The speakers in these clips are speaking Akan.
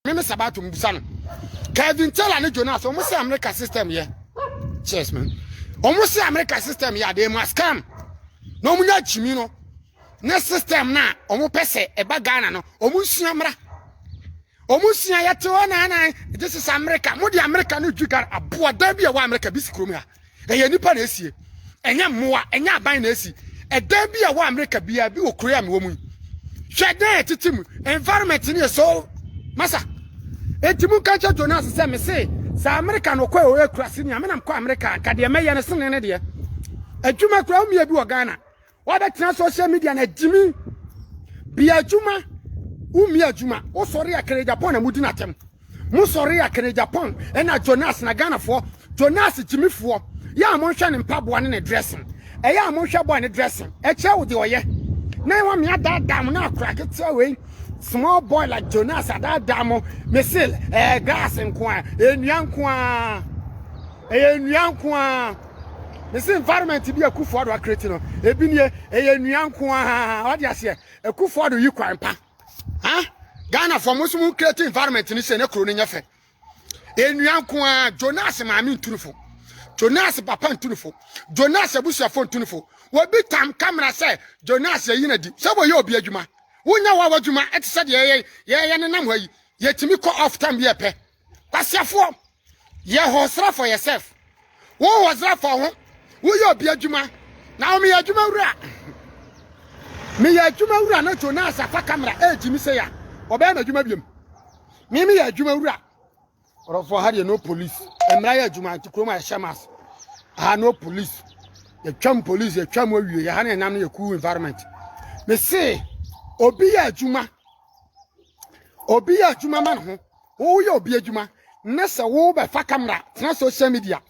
Meme Sabato mbusa no. Kevin Taylor ne Jonas, wɔn sɛ America system yɛ. Cheers man. Wɔn sɛ America system yɛ adeɛ mu scam. Na wɔn nya gyimi no. Ne system na wɔn pɛ sɛ ɛba Ghana no, wɔn nsua mmra. Wɔn nsua yɛte hɔ naanan. This is America. Mo de America no dwi Ghana. Aboɔdan bi a ɛwɔ America bi si kurom ha. ɛyɛ nipa na esie ɛnyɛ mmoa ɛnyɛ aban na esi ɛdan bi a wɔ amerika biara bi wɔ kuro a mewɔ mu yi hwɛ dan a ɛtete mu environment no yɛ so masa eti mu nka nkyɛ jonas sɛ me se sɛ amerika no kɔ a ɔyɛ kurase nea menam kɔ amerika nka deɛ mɛyɛ no sene ne deɛ adwuma kura wo mmea bi wɔ ghana Wabɛtena social media na gyimi bia adwuma wumi adwuma wosɔre a kere Japan na mudi n'atɛm mo sɔre a kere Japan ɛna Jonas na Ghanafoɔ Jonas gyimifoɔ yɛ a monhwɛ ne mpaboa ne ne dressing ɛyɛ a monhwɛ boy ne dressing ɛkyerɛ wo de ɔyɛ na ɛwɔ mmea daadaa mo na akora ketewa wei small boy like Jonas adaadaa mo mesil ɛɛ eh, gas nko a ɛnua nko a ɛyɛ nua nko a mese environment bi a Kufuor Addo akreti no ebi nie ɛyɛ nnua nko ara wade aseɛ Kufuor Addo yi kwan pa ha Ghana fo mo nso mo kreti environment no sɛ ne kuro no nyɛ fɛ nnua nko ara Jonas maame ntunifo Jonas papa ntunifo Jonas abusuafo ntunifo wɔbi tam kamera sɛ Jonas yɛyi no adi sɛ wɔyɛ obi adwuma wonya wa w'adwuma ɛte sɛ deɛ yɛyɛ yɛyɛ nenam ha yi yɛtumi kɔ off time bi ɛpɛ Kwasiafoɔ, yɛ hɔsra for yourself. Wo hɔsra for ho, woyɛ obi adwuma. Na wo meyɛ adwuma wura. Meyɛ adwuma wura na Jonas afa kamera ɛregye me sɛ a, ɔbɛyɛ m'adwuma biam. Me meyɛ adwuma wura. Ɔrɔfoɔ ha deɛ no police. Mmara yɛ adwuma nti kurom a ɛhyɛ mas. Ha no police. Yɛtwam police, yɛtwam awie, yɛ ha no ɛnam no yɛ cool environment. Me se, obi yɛ adwuma. Obi yɛ adwuma ma ne ho. woyɛ obi adwuma ne sɛ wobɛfa kamera tena social media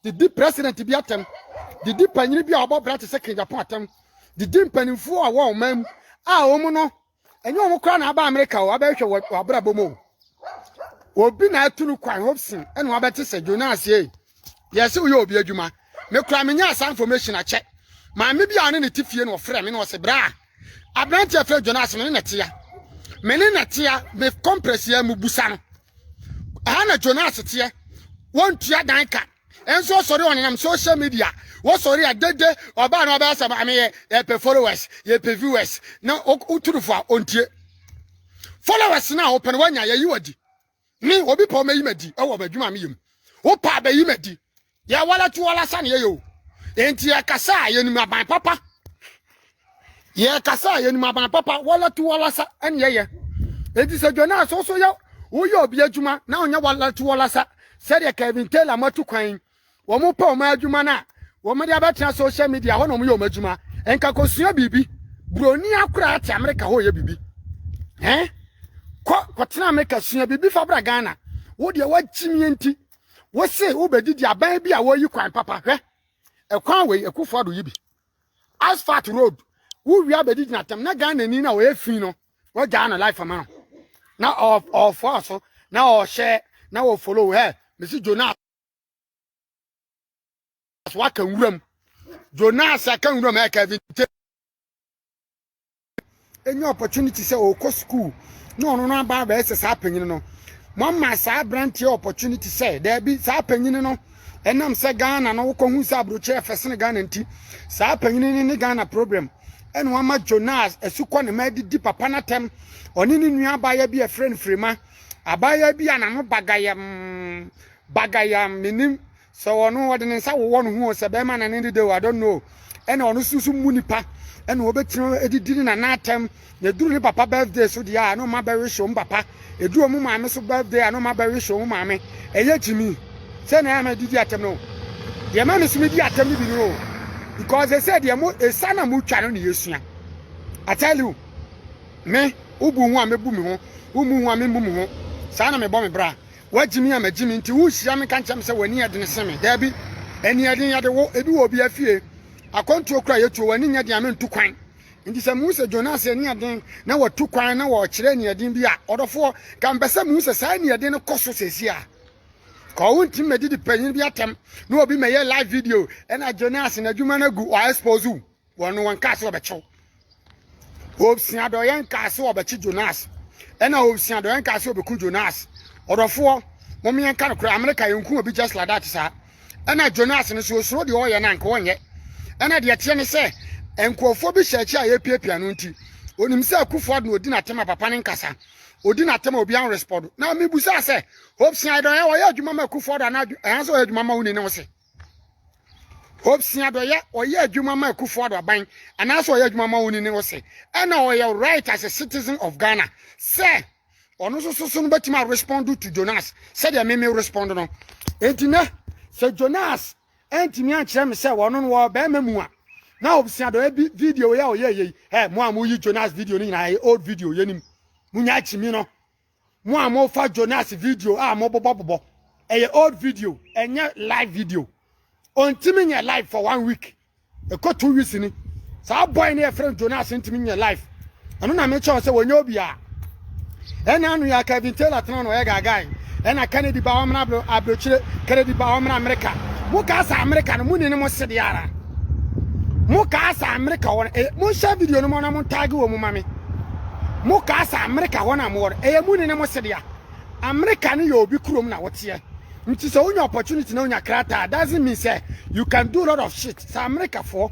de di president bi atɛm de di panyini bi a ɔbɔ bra te sɛ King Japan atɛm de di mpanimfoɔ a wɔwɔ ɔman mu a wɔn no ɛnyɛ wɔn koraa na aba Amerika o abɛhwɛ wɔ abrabɔ mu o obi na atu no kwan Hobson ɛna wabɛte sɛ Jonas yei Yɛse woyɛ obi adwuma. Me kura me nyaa saa information akyɛ. Maame bi a ɔne ne te fie na ɔfrɛ me na ɔse bra. Aberante a fira Jonas me ne ne tea. Me ne ne tea me compress yɛ mu busa no. Ɛha na Jonas teɛ. Wɔntua dan ka. Ɛnso ɔsɔre ɔnenam social media. Wɔsɔre a dede ɔbaa na ɔbɛyɛ sɛ maame yɛ yɛpɛ followers yɛpɛ viewers na woturufo a ɔntie. Followers na ɔpɛ no wanya yɛyi wadi. Me obi pɛ ɔmɛyi m'adi wɔ m'adwuma a meyɛ mu wopɛ a bɛyi m'adi yɛwɔla tu wɔla sa ne yɛyɛ o enti yɛkasa a yɛnim aban papa yɛkasa a yɛnim aban papa wɔla tu wɔla sa ne yɛyɛ enti sɛ dwane a so so yɛ woyɛ obi adwuma na ɔnyɛ wɔla tu wɔla sa sɛdeɛ Kevin Taylor matu kwan wɔpɛ wɔn adwuma no a wɔde abɛtena social media hɔ na wɔyɛ wɔn adwuma nka kɔsua biribi buroni akora te amerika hɔ yɛ biribi ɛn kɔ kɔtena amerika sua biribi fa bra ghana wo deɛ wakyimie nti wo se wobɛdidi aban bi a wɔyi kwan papa hwɛ ɛkwan wei ɛkufoɔ ado yi bi asphalt road wowia bɛdi gyina tam na ghana ni na wɔyɛ fi no wɔgyaa no life ma no na ɔfoa so na ɔhyɛ na wɔfollow ɛ mesi jonas so aka nwuram jonas aka nwuram ɛ kevin te ɛnya opportunity sɛ ɔkɔ sukuu na ɔno no aba abɛyɛ sɛ saa panyini no mama saa aberanteɛ opportunity sɛ daabi saa panyini no ɛnam sɛ ghana no wokɔhu sɛ aburokyerɛ fɛ sene ghana nti saa panyini no ne ghana problem ɛna wama jonas asukɔ ne ma adidi papa no atɛm ɔne ne nua abaayɛ bi ɛfrɛ no firima Abaayewa bi a n'ano bagayam bagayam menim sɛ ɔno ɔde ne nsa wowɔ ne ho o, sɛ bɛrima na ne dede o, I don't know. Ɛna ɔno nso so mu nipa ɛna ɔbɛtumi adidi ne nana atɛm na ɛduru ne papa birthday so deɛ a na ɔma bɛwehye ɔmo papa ɛduru ɔmo maame so birthday a na ɔma bɛwehye ɔmo maame ɛyɛ gyimi sɛ na ɛma didi atɛm no deɛ ma me so medi atɛm no bi no o because ɛsɛ deɛ mo ɛsa na motwa no ne yɛsua I tell you Me, wobu ho a mɛbu me ho, wommu ho a memmu me ho. Saa na mebɔ me bra. Woagye me a magye me nti worehyira me nka nkyerɛ me sɛ w'ani yɛ den sen me. Daabi, ani yɛ den yɛ de wo, ebi wɔ obiara fie. Akwantuo koraa a yɛtuo, w'ani nyɛ den a mentu kwan. Nti sɛ mehu sɛ Jonas ani yɛ den na watu kwan na ɔrekyerɛ aniɛden bi a, ɔdɔfoɔ, nka mepɛ sɛ mehu sɛ saa aniɛden no kɔ so seesei a. Ka wontumi mɛdidi panyin bi atɛm na obi mɛyɛ live video na Jonas n'adwuma no agu, ɔaexpose wo. wɔn no wɔnkaa sɛ wɔbɛkyɛw obsia dɔyɛ nkaa sɛ wɔbɛkye jonas ɛna obsia dɔyɛ nkaa sɛ wɔbɛku jonas ɔdɔfoɔ mom yɛn ka no korɛ amerika yɛnku obi just like that saa ɛna jonas no so osuro deɛ ɔyɛ no anka ɔnyɛ ɛna deɛ teɛ ne sɛ nkurɔfoɔ bi hyɛ akyi a yɛpiapia no nti onim sɛ akufo ado na odi n'atɛm a papa ne nkasa odi n'atɛm a obi an respond na mebusa sɛ obsia dɔyɛ ɔyɛ adwuma ma akufo ado anaa ɛhan sɛ ɔyɛ adwuma ma wo ni ne wo se ɔsua dɔyɛ ɔyɛ adwuma ma akufo ado aban anaasɛ ɔyɛ adwuma ma wɔn ne ɔsɛ ɛna ɔyɛ right as a citizen of ghana sɛ ɔno nso soso no bɛtumi a respond to jonas sɛdeɛ meme respond no enti nɛ sɛ jonas ɛntumi ankyerɛ me sɛ wɔno no wɔ bɛrima mu a na ɔsua dɔyɛ bi video yɛ ɔyɛ yei ɛ mo a moyi jonas video no nyinaa old video yɛnim monya akyimi no Mo a mo fa Jonas video a mo bobɔ bobɔ ɛyɛ old video ɛnyɛ live video ɔntimi nyɛ live for one week ɛkɔ two weeks ni saa boy ne yɛfrɛ Jonas ntimi nyɛ live ɛno na mekyɛ sɛ wɔnyɛ obi a ɛna ano yɛ Kevin Taylor tena na ɔyɛ gagae ɛna Kennedy ba ɔmena abrokyire Kennedy ba ɔmena Amerika mo kaa sɛ Amerika no mo ni ne mo sede ara mo kaa sɛ Amerika wɔn eh, mo nhyɛ video no mo na mo ntaage wɔ mu ma me Mo kaa sɛ Amerika hɔ na mowɔ no, ɛyɛ mo nini mo sedea. Amerika no yɛ obi kurom na woteɛ. Nti sɛ wonya opportunity na wonya krataa doesn't mean sɛ you can do lot of shit. Sɛ Amerikafoɔ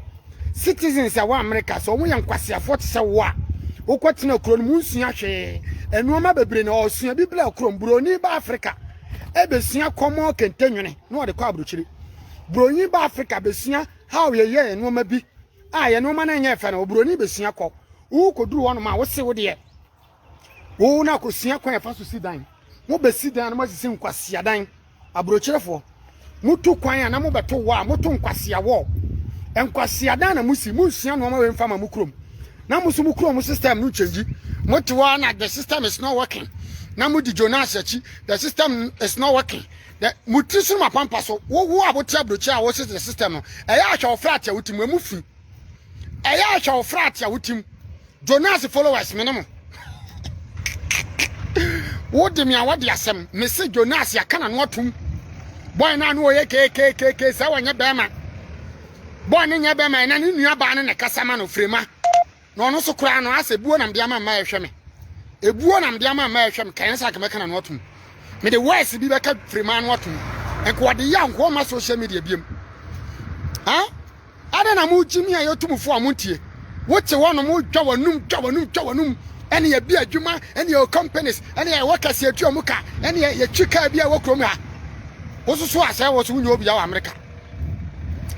citizens ɛwɔ Amerika sɛ wɔn yɛ nkwaseafoɔ te sɛ wo a, wokɔ tena kuro no mu nsua hwee. Nnoɔma bebree na ɔsua bi bla kurom. Buroni ba Afrika ɛbɛsua kɔmɔ kente nwene na ɔde kɔ aburokyiri. Buronyi ba Afrika bɛsua how yɛyɛ nnoɔma bi. a yɛ nneɛma no nyɛ fɛ no oburoni bɛsua kɔ wokɔduru hɔ nom a wose wo deɛ wo no akɔsua kwan ɛfa so si dan mobɛsi dan a na moasisi nkwasea dan aburokyerefoɔ moto kwan a na mobɛto wɔ a moto nkwasea wɔ nkwasea dan na mosi monsua nnoɔma wei mfa ma mo kurom na mo so mo kurom system no change mote hɔ na the system is not working na modi jonas akyi the system is not working Dɛ mo tsir sonom apampa so, wo wo a wote aburokyi a wose the system no, ɛyɛ a hwɛ wo frɛ atea wo tim, emu fi. Ɛyɛ a hwɛ wo frɛ atea wo tim. Jonas followers me ne mo. Wo de me a wɔde asɛm, me se Jonas yɛaka na no atom. Boy no a no ɔyɛ kekekeke sɛ wɔnyɛ bɛrima. Boy no nyɛ bɛrima, ɛna ne nua baa no na ɛkasa ma no, frema. na ɔno so koraa no asɛ buo nam de ama mma ɛhwɛ me ebuo nam de ama mma ɛhwɛ me kɛn sɛ akamɛka na no atom me de wɔɛs bi bɛka firima no atom nko ɔde yɛ nko ɔma social media biem ha ada na mo gyimi a yɛtum fo a mo ntie wote hɔ no mo dwa wanum dwa wanum dwa wanum ɛne yɛ bi adwuma ɛne yɛ companies ɛne yɛ wɔ kɛse atua mu ka ɛne yɛ twi kaa bi a wɔ kurom ha wososo asɛ wɔ so wonyɛ obi a wɔ amerika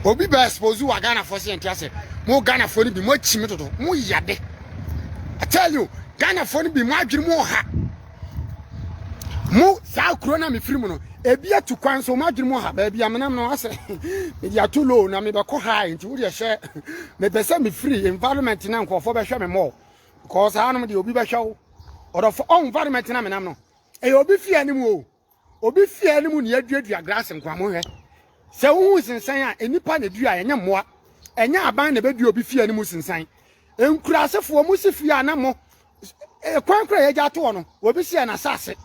obi bɛ expose wa Ghana fo se ntia se mo Ghana fo ni bi mo akyimi dodo mo yade I tell you Ghana fo ni bi mo adwiri mo ha mo saa kuro na me firi mu no ebi atu kwan so mo adwiri mo ha baabi amenam no ase me dia too low na me bɛkɔ ha nti wo deɛ hyɛ me pɛ sɛ me firi environment na nkurɔfoɔ bɛhwɛ me mɔ because anom deɛ obi bɛhwɛ wo ɔdɔfo ɔn environment na menam no ɛyɛ obi fie anim o Obi fie a ne mu na yɛaduadua grass nkwamo hwɛ. Sɛ wohu nsensan a, nnipa na eduaeɛ, ɛnyɛ mmoa. Ɛnyɛ aban na ɛbɛdua obi fie a ne mu sensan. Nkurasefoɔ, mo si fie a na mo eh, kwan kora yɛgya atoɔ no, obi si yɛ n'asase.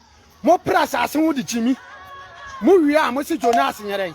Mopere asase ho de kyimi. Mowie a, mo si Jonas nyerɛn.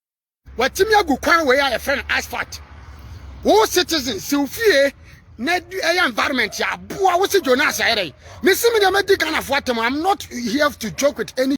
Watumi agu kwan wei a yɛfrɛ no asphalt. Wo citizen si wo fie na ɛyɛ environment a aboa wo si Jonas ayɛ dɛ. Me si me deɛ mɛdi Ghanafoɔ atam. I'm not here to joke with any